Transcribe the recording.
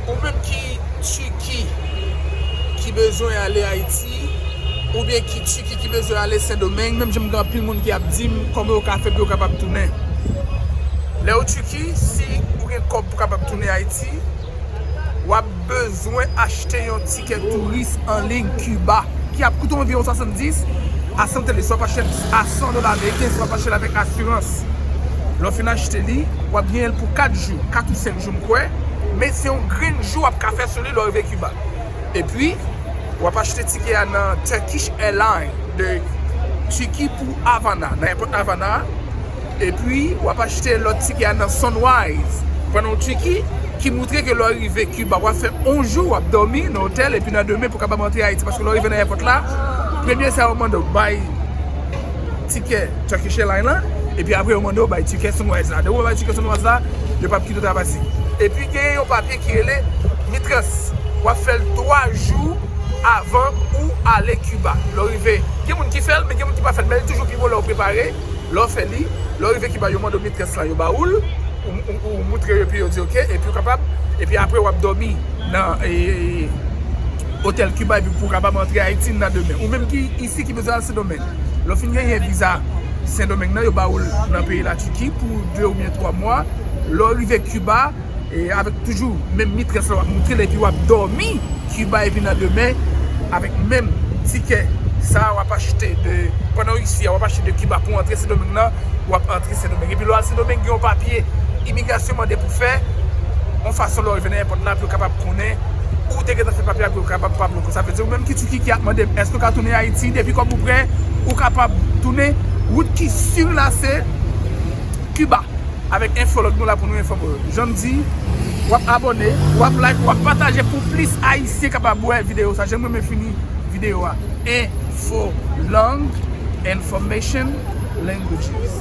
Ou menm ki Tuki ki bezwen ale Ayiti oubyen ki Tuki ki bezwen ale Sendomeng menm jan m gen anpil moun ki ap di m kòman yo ka fè pou yo kapab tounen. Lè ou Tuki si ou gen kòb pou kapab tounen Ayiti w ap. Bezwen achte yon tikè touris an liy Kiba ki ap koute w anviwon 70 a 100 dola swa pa chè a 100 dola ameriken swa pa chè avèk asirans. Lè w fin achte li, w ap genyen l pou 4 jou, 4 ou 5 jou m kwè, men se yon grenn jou w ap ka fè sou li lè w rive Kiba. Epi, w ap achte tikè a nan Turkish Airlines de Tiki pou Avana, nan èpòt Avana a. Epi w ap achte lòt tike a nan Sunrise, pran yon tike ki moutre ke lè w rive Kiba w ap fè yon jou w ap dòmi nan otèl epi nan demen pou w kapab antre Ayiti paske lè w rive nan èpòt la premye sa yo mande w bay tike Turkish Airline la epi apre yo mande w bay tike Sunrise la. Depi w bay tike Sunrise la yo pa p kite w ta pati. Epi genyen yon papye ki rele Mitrans w ap fè l 3 jou avan ou ale Kiba lè w rive. Gen moun ki fè l men gen moun ki pa fè l men li toujou pi bon lè w prepare. Lè w fè li, lè w rive Kiba yo mande w mitrès lan yo ba ou l, ou moutre yo epi yo di ok epi ou kapab epi apre w ap dòmi nan otèl Kiba epi pou w kapab antre Ayiti nan demen. Ou menm ki isi ki bezwen al Sendomeng, lè w fin genyen viza Sendomeng nan yo ba ou l nan peyi Latiki pou 2 oubyen 3 mwa, lè w rive Kiba. Avèk toujou menm mitrès la wap moutre l epi wap dòmi Kiba epi nan demen avèk menm tikè sa wap achte de pandan w isi a wap achte de Kiba pou w antre Sendomeng nan wap antre Sendomeng epi lè w al Sendomeng gen yon papye imigrasyon mande pou w fè yon fason lè w rive nan èpòt la pou yo kapab konnen ou te gentan fè papye a pou yo kapab pa bloke w sa vle di ou menm ki Tiki ki ap mande m èske w ka tounen Ayiti depi kòb ou prè ou kapab tounen wout ki siw la se. Cuba avèk enfològ nou la pou nou enfòme w. Jan m di, w ap abòne, w ap like, w ap pataje pou plis Ayisyen kapab wè videyo sa. Jan m renmen fini videyo a, Enfològ, Information, Languages.